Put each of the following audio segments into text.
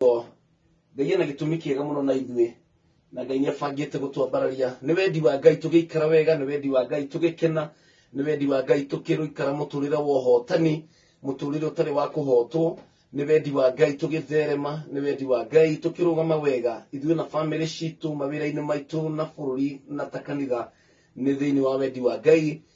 o ngai ena gĩtũmi kĩega mũno na ithuĩ na ngai nĩabangĩte gũtwambararia nĩ wendi wa ngai tũgĩikara wega nĩ wendi wa ngai tũgĩkena nĩ wendi wa ngai tũkĩrũikara mũtũrĩre wa ũhotani mũtũrĩre ũtarĩ wa kũhotwo nĩ wendi wa ngai tũgĩtherema nĩ wendi wa ngai tũkĩrũgama wega ithuĩ na bamĩrĩ citũ mawĩra-inĩ maitũ na bũrũri na ta kanitha nĩ thĩinĩ wa wendi wa ngai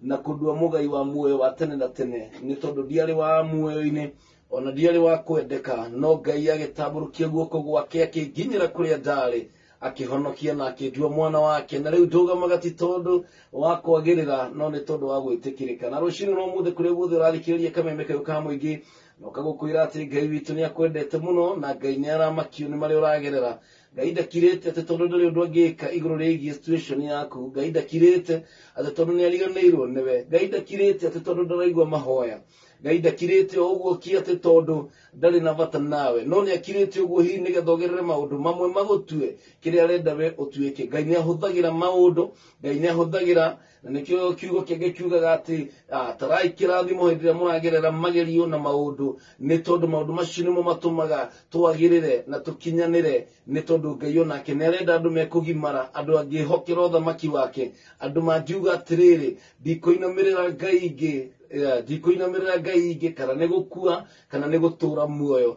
na kũndua mũgai wa muoyo wa tene na tene nĩ tondũ ndiarĩ wa muoyo-inĩ ona ndiarĩ wa kwendeka no ngai agĩtambũrũkia guoko gwake akĩnginyĩra kũrĩa ndarĩ akĩhonokia na akĩndua mwana wake na rĩu ndũgamaga ti tondũ wa kwagĩrĩra no nĩ tondũ wa gwĩtĩkĩrĩka na rũcinĩ rwa mũthĩ kũrĩa guothe ũrathikĩrĩria kameme kayũ ka mũingĩ noka gũkwĩra atĩ ngai witũ nĩ akwendete mũno na ngai nĩ aramakio nĩ marĩa ũragerera ngai ndakirĩte atĩ tondũ ndũrĩ ũndũ angĩka igũrũ rĩgiĩ situation yaku ngai ndakirĩte atĩ tondũ nĩ ariganĩirwo nĩwe ngai ndakirĩte atĩ tondũ ndaraigua mahoya ngai ndakirĩte o ũguo ki atĩ tondũ ndarĩ na bata nawe no nĩ akirĩte ũguo hihi nĩgetha ũgerere maũndũ mamwe magũtue kĩrĩa arenda we ũtuĩke ngai nĩ ahũthagĩra maũndũ ngai nĩ ahũthagĩra na nĩkĩo kiugo kĩngĩ kiugaga atĩ ah, tarai kĩrathimo hĩndĩ ĩrĩa mũragerera magerio na maũndũ nĩ tondũ maũndũ macio nĩmo matũmaga twagĩrĩre na tũkinyanĩre nĩ tondũ ngai onake nĩ arenda andũ mekũgimara andũ angĩhokera ũthamaki wake andũ mangiuga atĩrĩrĩ ndikũinamĩrĩra ngai ingĩ eh, ndikũinamĩrĩra ngai ingĩ kana nĩ gũkua kana nĩ gũtũra muoyo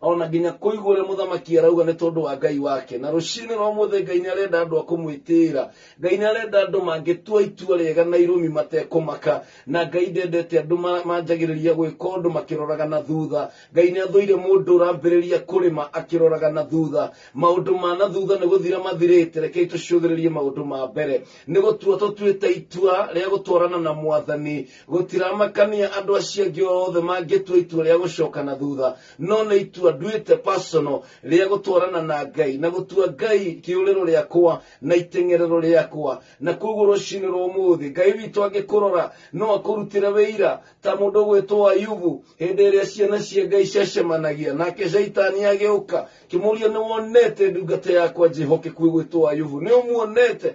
ona nginya kũigua ũrĩa mũthamaki arauga nĩ tondũ wa ngai wake na rũcinĩ rwa mũthĩ ngai nĩ arenda andũ a kũmwĩtĩĩra ngai nĩ arenda andũ mangĩtua itua rĩega na irũmi matekũmaka na ngai ndendete andũ ma- manjagĩrĩria gwĩka ũndũ makĩroraga na thutha ngai nĩ athũire mũndũ ũrambĩrĩria kũrĩma akĩroraga na thutha maũndũ ma na thutha nĩ gũthira mathirĩte rekei tũcũthĩrĩrie maũndũ ma mbere nĩ gũtua tũtuĩte itua rĩa gũtwarana na mwathani gũtiramakania andũ acio angĩ othe mangĩtua itua rĩa gũcoka na thutha no nĩ itua nduĩte personal rĩa gũtwarana na ngai na gũtua ngai kĩũrĩro rĩakwa na iteng'erero rĩakwa na koguo rũcinĩ rwa ũmũthĩ ngai witũ angĩkũrora no akũrutĩre wĩira ta mũndũ ũgwĩtwo ayubu hĩndĩ ĩrĩa ciana cia ngai ciacemanagia nake shaitani agĩũka kĩmũria nĩ wonete ndungata yakwa njehokeku ĩgwĩtwo ayubu nĩ ũmuonete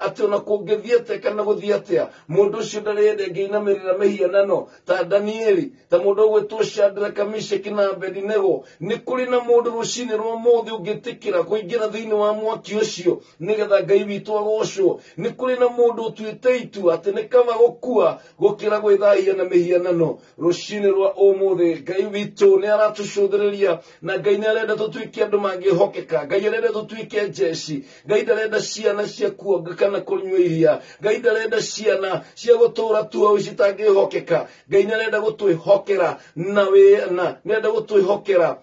atĩ ona kũngĩthiĩ atĩa kana gũthiĩ atĩa mũndũ ũcio ndarĩ hĩndĩ ĩngĩinamĩrĩra mĩhianano ta danieli ta mũndũ ũgwĩtwo shadraka mishaki na abedinego nĩ kũrĩ na mũndũ rũcinĩ rwa mũthĩ ũngĩtĩkĩra kũingĩra thĩinĩ wa mwaki ũcio nĩgetha ngai witũ agocwo nĩ kũrĩ na mũndũ ũtuĩte itua atĩ nĩ kaba gũkua gũkĩra gwĩthahia na mĩhianano rũcinĩ rwa ũmũthĩ ngai witũ nĩ aratũcũthĩrĩria na ngai nĩ arenda tũtuĩke andũ mangĩhokeka ngai arenda tũtuĩke njeci ngai ndarenda ciana cia kuonga kana kũnyua iria ngai ndarenda ciana cia gũtũũra tuoĩ citangĩhokeka ngai nĩ arenda gũtwĩhokera na wĩ- na nĩ arenda gũtwĩhokera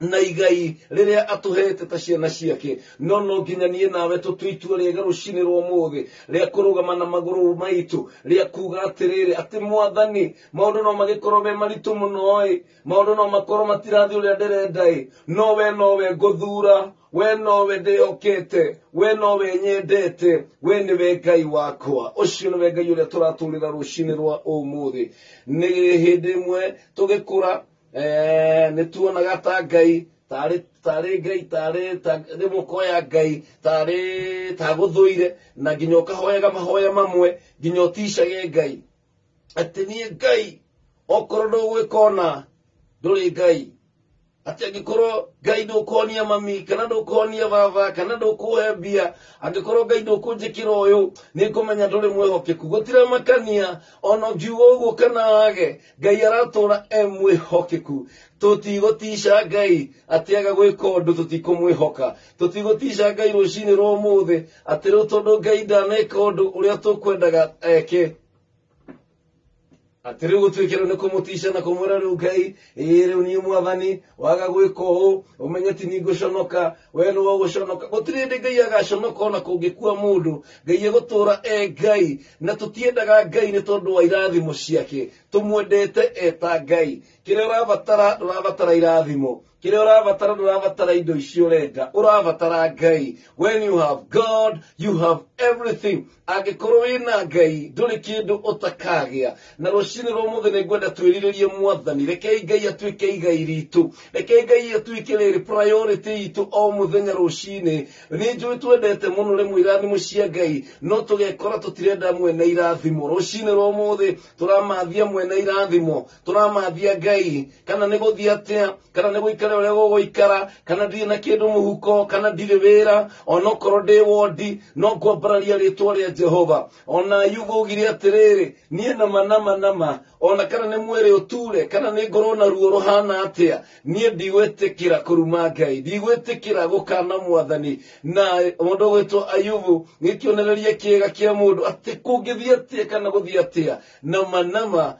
na igai rĩrĩa atũhete ta ciana ciake no no nginya niĩ nawe tũtue itua rĩega rũcinĩ rwa mũthĩ rĩa kũrũgama na magũrũ maitũ rĩa kuga atĩrĩrĩ atĩ mwathani maũndũ no magĩkorwo me maritũ mũno-ĩ maũndũ no makorwo matirathiĩ ũrĩa ndĩrenda-ĩ no we no we ngũthura we nowe ndĩyũkĩte we nowe nyendete we nĩwe ngai wakwa ũcio nĩwe ngai ũrĩa tũratũrĩra rũcinĩ rwa ũmũthĩ nĩ hĩndĩ ĩmwe tũgĩkũra eh, nĩ tuonaga ta ngai tarĩ tarĩ ngai tarĩ ta- rĩu mũkoya ngai tarĩ tagũthũire na nginya ũkahoyaga mahoya mamwe nginya ũticage ngai atĩ niĩ ngai okorwo ndũgwĩkona ndũrĩ ngai ati angikorwo ngai ndukuonia mami kana ndukuonia baba kana ndukuhe mbia angikorwo ngai ndukunjikira uyu nikumenya nduri mwihokeku gutiramakania ona ngiuga uguo kana wage ngai aratura e mwihokeku tutigutiica ngai ati aga gwika undu tutikumwihoka tutigutiica ngai rucini rwa umuthi ati riu tondu ngai ndaneka undu uria tukwendaga eke atĩrĩ gũtuĩkĩrwo nĩ kũmũtiica na kũmwĩra rĩu ngai ĩĩ rĩu niĩ mwathani waga gwĩka ũũ ũmenye ti ningũconoka we nĩ wogũconoka gũtirĩ hĩndĩ ngai agaconoka ona kũngĩkua mũndũ ngai egũtũũra e ngai na tũtiendaga ngai nĩ tondũ wa irathimo ciake tũmwendete eta ngai kĩrĩa ũrabatara ndũrabatara irathimo kĩrĩa ũrabatara ndũrabatara indo ici ũrenda ũrabatara ngai when you have god you have everything angĩkorwo wĩna ngai ndũrĩ kĩndũ ũtakagĩa na rũcinĩ rwa mũthĩ nĩ ngwenda twĩrirĩrie mwathani rekei ngai atuĩke igai ritũ rekei ngai atuĩke rĩrĩ priority itũ o mũthenya rũcinĩ nĩ njũĩ twendete mũno rĩmwe irathimo cia ngai no tũgekora tũtirenda mwene irathimo rũcinĩ rwa mũthĩ tũramathia mwene irathimo tũramathia ngai kana nĩ gũthiĩ atĩa kana nĩ gũikara ũrĩa gũgũikara kana ndirĩ na kĩndũ mũhuko kana ndirĩ wĩra onokorwo ndĩ wondi no ngwambararia rĩtwa rĩa jehova ona yuga ũgire atĩrĩrĩ niĩ nama nama nama ona kana nĩ mwĩrĩ ũture kana nĩ ngorwo na ruo rũhana atĩa niĩ ndigwĩtĩkĩra kũruma ngai ndigwĩtĩkĩra gũkana mwathani na mũndũ ũgwĩtwo ayubu nĩ kĩonereria kĩega kĩa mũndũ atĩ kũngĩthiĩ atĩa kana gũthiĩ atĩa nama nama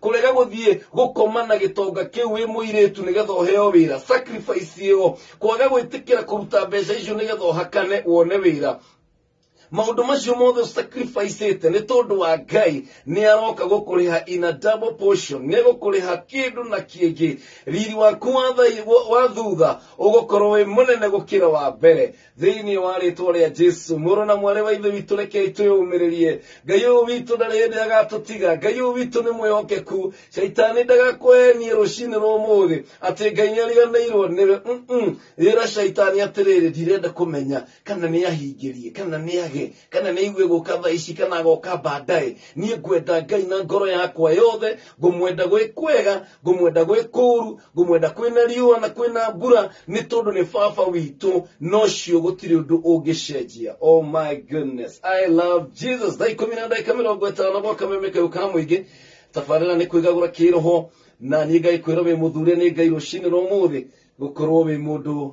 kũrega gũthiĩ gũkoma na gĩtonga kĩu wĩ mũirĩtu nĩgetha ũheo wĩra sacrifice ĩyo kwaga gwĩtĩkĩra kũruta mbeca icio nĩgetha ũhakane wone wĩra maũndũ macio mothe ũsacrificĩte nĩ tondũ wa ngai nĩ aroka gũkũrĩha in a double portion nĩ gũkũrĩha kĩndũ na kĩngĩ riri waku wa thai- wa thutha ũgũkorwo wĩ mũnene gũkĩra wa mbere thĩinĩ wa rĩtwa rĩa jesu mũrũ na mwarĩ wa ithe witũ rekei twĩyũmĩrĩrie ngai ũyũ witũ ndarĩ hĩndĩ agatũtiga ngai ũyũ witũ nĩ mwĩhokeku caitani ndagakwenie rũcinĩ rwa ũmũthĩ atĩ ngai nĩ ariganĩirwo nĩwe Mm-mm. rĩra caitani atĩrĩrĩ ndirenda kũmenya kana nĩ ahingĩrie kana nĩ age kana nĩ aigue gũka thaa ici kana agoka baadaye niĩ ngwenda ngai na ngoro yakwa yothe ngũmwenda gwĩ kwega ngũmwenda gwĩ kũru ngũmwenda kwĩna riũa na kwĩna mbura nĩ tondũ nĩ baba witũ nocio gũtirĩ ũndũ ũngĩcenjia oh my goodness i love jesus thaa ikũmi na ndagĩka mĩrongo ĩtano gwa kameme kau ka mũingĩ tabarĩra nĩ kwĩgagũra kĩroho na niĩ ngaĩkwĩra wĩ mũthure nĩ ngai rũcinĩ rwa mũthĩ gũkorwo wĩ mũndũ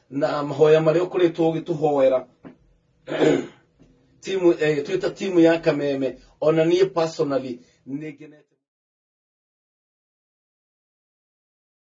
na mahoya marĩa ũkoretwo ũgĩtũhoera timu eh, twita timu ya kameme ona niĩ personally nĩngenete